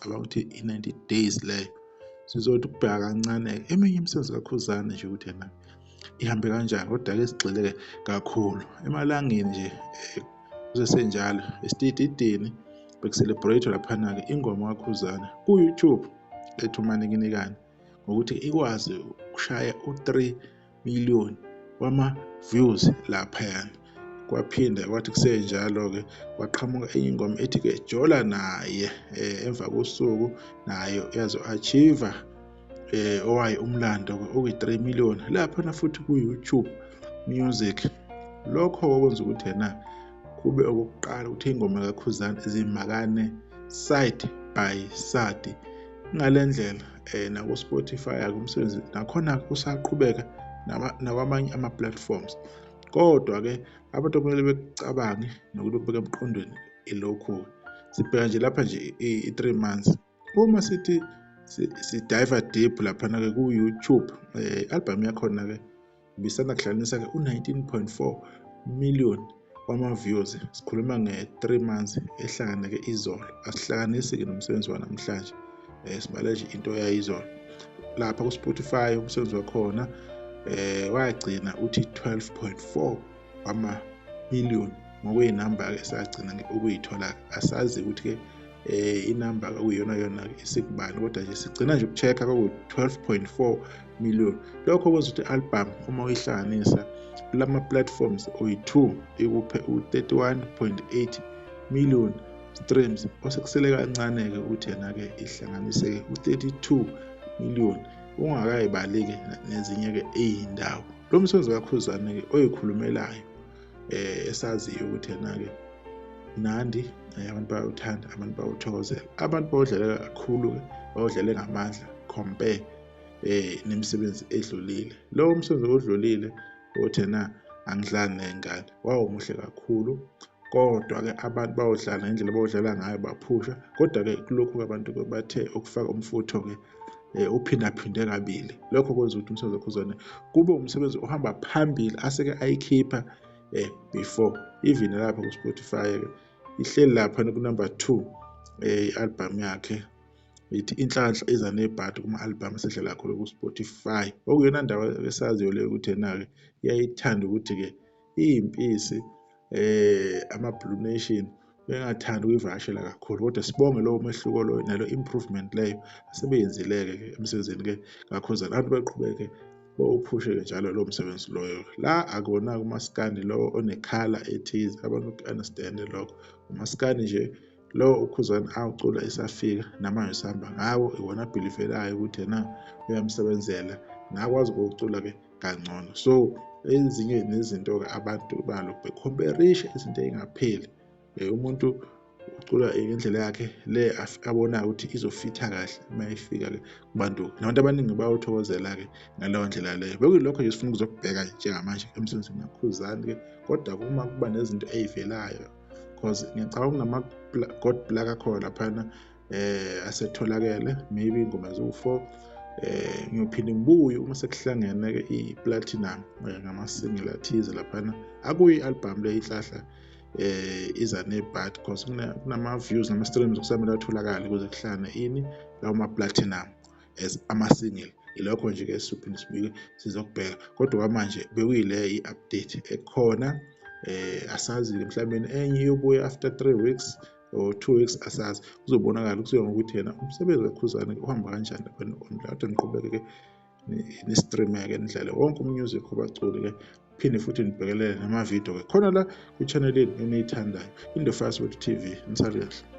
cabanga ukuthi i-90 days leyo sizothi ukubheka kancane eminye imisebenzi kakhuzane nje ukuthi yena ihambe kanjani kodwa ke sigxile kakhulu emalangeni nje eh, kusesenjalo esitididini bekuselebrate laphana-ke ingoma kakhuzana ku-youtube ethi umanekinikane ngokuthi ikwazi ukushaya u-3 million wama views laphayana kwaphinda kwathi kusenjalo-ke kwaqhamuka enye ingoma ethi-ke jola naye um emva kosuku nayo yazo-achieve eh owaye umlando oyi-3 million laphana futhi ku-youtube music lokho okwenza ukuthi yena kube okokuqala ukuthi ingoma kakhuzana zimakane side by side ngale ndlela eh, naku-spotify akumsebenzi nakhona kusaqhubeka nakwamanye ama-platforms kodwa-ke abantu okumele bekucabange nokuthi kubeka emqondweni ilokhu-ke sibheka nje lapha nje i-three months uma sithi sidiver deep laphana-ke ku-youtube um eh, i-albhamu yakhona-ke Bisanda kuhlanganisa-ke u-19.4 million wama-views sikhuluma nge-three months ehlangane-ke izolo asihlanganisi-ke nomsebenzi wanamhlanje um sibale nje into yayizolo lapha ku-spotify umsebenzi wakhona um wagcina uthi 12.4 ama-million ngokuyinamba esagcina ukuyithola asazi ukuthi-ke eh inamba okuyiyona yona isikubani kodwa nje sigcina nje ukucheck kwaku-12.4 million lokho kwenza ukuthi album uma uyihlanganisa kulama platforms oyi-2 ikuphe u-31.8 million streams osekusele kancane-ke ukuthi yena-ke ihlanganiseke u-32 million ungakayibaleki nezinye-ke eyindawo lo msebenzi kakhuzane-ke oyikhulumelayo um esaziyo ukuthi yena-ke mnandi um abantu bayawuthanda abantu bawuthokozela abantu bawudlalela kakhulu-ke bawudlale ngamandla compare eh nemisebenzi edlulile lo umsebenzi odlulile othi na angidlali nengane wawumuhle kakhulu kodwa-ke abantu bayodlala ngendlela abawudlala ngayo baphusha kodwa-ke kulokhu-ke abantu bathe ukufaka umfutho-ke um eh, uphindaphinde kabili lokho kwenza ukuthi umsebenzi wakhuzane kube umsebenzi ohamba phambili aseke ayikhipha um before even lapha ku-spotify-ke ihleli laphana kunumber two um eh, i-albham yakhe ithi inhlanhla iza nebhadi kuma-albham esedlala khona ku-spotify okuyona ndawo esaziyo leyo ukuthi yena-ke iyayithanda ukuthi-ke iyimpisi eh ama blue nation bengathanda ukuyivakashela kakhulu kodwa sibonge lowo mehluko loyo nalo improvement leyo asebeyenzileke ke emsebenzini ke kakhuzana abantu beqhubeke bowuphushe-ke njalo lowo msebenzi loyo la akona umaskandi lowo onekhala ethize abantu uku-understande lokho umaskandi nje lowo ukhuzana awucula esafika namanje sihamba ngawo iwona abhilivelayo ukuthi yena uyamsebenzela ngakwazi ukuwucula-ke kangcono so ezinye nezinto-ke abantu balo bekhomperisha izinto ey'ngapheli um umuntu ucula ngendlela yakhe le abonayo ukuthi izofitha kahle uma ifika-ke kubantu nabantu abaningi bayawuthokozela-ke ngaleyo ndlela leyo bekuyilokho nje sifuna ukuzokubheka njengamanje emsebenzini nakhuzani-ke kodwa uma kuba nezinto ey'velayo because ngiyacabanga kunama-god plug akhona laphana eh asetholakele maybe ingoma eziwu-4 eh ngiyophinde ngibuye uma sekuhlangene ke i-platinum eh, ngama-single athize laphana akuyi album le ihlahla eh iza ne-bad because kunama-views nama-streams okusamele atholakale kuze kuhlane ini lawo ma-platinum as ama-single ilokho nje ke siphinde sibuye sizokubheka kodwa kwamanje bekuyile i-update ekhona eh asazi mhlawumbe enye iyobuya after 3 weeks or two weeks asazi kuzobonakala kusuka ngokuthi yena umsebenzi kakhuzane uhamba kanjani abantu online kodwa niqhubeke-ke ni-streame-ke nidlale wonke umusic obaculi-ke phinde futhi nibhekelele namavidiyo-ke khona la kwi-channel yenu eniyithandayo in the fast word tv nisali kahle